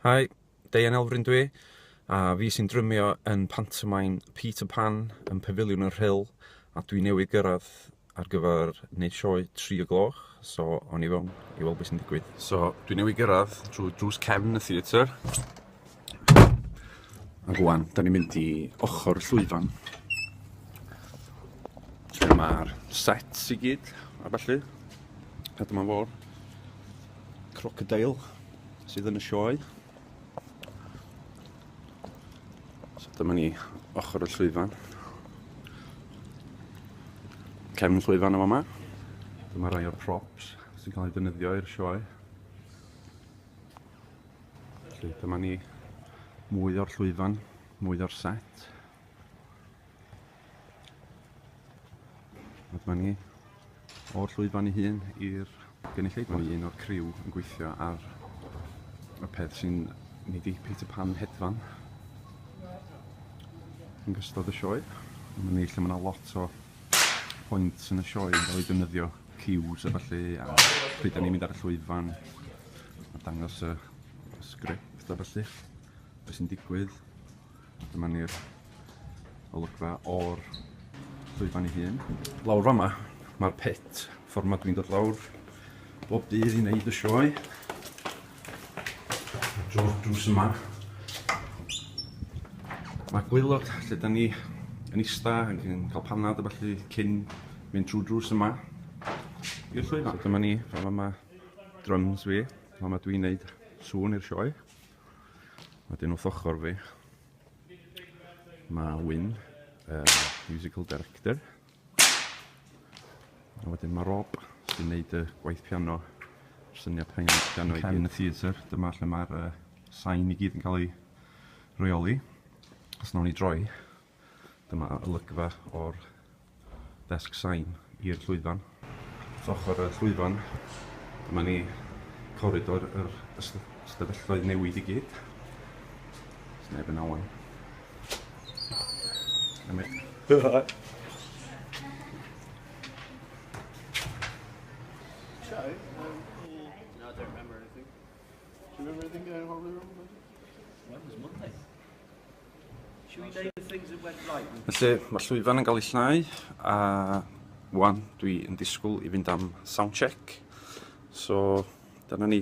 Hi, Deian Elfryn dwi, a fi sy'n drymio yn pantomain Peter Pan yn Pafiliwn y Rhyl, a dwi newydd gyrraedd ar gyfer wneud sioe tri o gloch, so o'n i fewn i weld beth sy'n digwydd. So, dwi newydd gyrraedd drwy drws cefn y theatr. A rwan, da ni'n mynd i ochr y llwyfan. Lle mae'r sets i gyd, a falle. A dyma fo'r crocodile sydd yn y sioe. So dyma ni ochr y llwyfan. Cefn llwyfan o yma. Dyma rai o'r props sy'n cael ei ddefnyddio i'r sioe. Felly dyma ni mwy o'r llwyfan, mwy o'r set. A dyma ni o'r llwyfan i hun i'r gynulleidfa. Mae un o'r criw yn gweithio ar y peth sy'n mynd i Peter Pan hedfan yn gystod y sioe. Mae ni lle mae yna lot o point yn y sioe yn cael ei defnyddio, cues a falle, a pryd ni'n mynd ar y llwyfan, a dangos y, y sgript a falle, beth sy'n digwydd. Dyma ni'r olygfa o'r llwyfan ei hun. Lawr fama, mae'r pit, ffordd mae dwi'n dod lawr, Bob dydd i wneud y sioe. Drw'r drws yma. Mae gwylod lle da ni yn ista, yn cael panad a falle cyn mynd trwy drws yma. I'r llwyfan. So dyma ni, fama mae drums fi, fama dwi'n neud sŵn i'r sioe. Mae dyn wrth ochr fi. Mae Wyn, uh, musical director. A wedyn mae Rob sy'n neud y gwaith piano, yr syniad haen y piano i gyd. Yn y theatr, dyma lle mae'r uh, sain i gyd yn cael ei reoli. Os nawn ni droi, dyma olygfa o'r desg sain i'r llwyfan. Wrth ochr y llwyfan, dyma ni coridor yr ystafelloedd newid i gyd. Os neb yn awen. Felly, mae'r llwyfan yn cael ei llnau, a wan dwi yn disgwyl i fynd am soundcheck. So, dyna ni.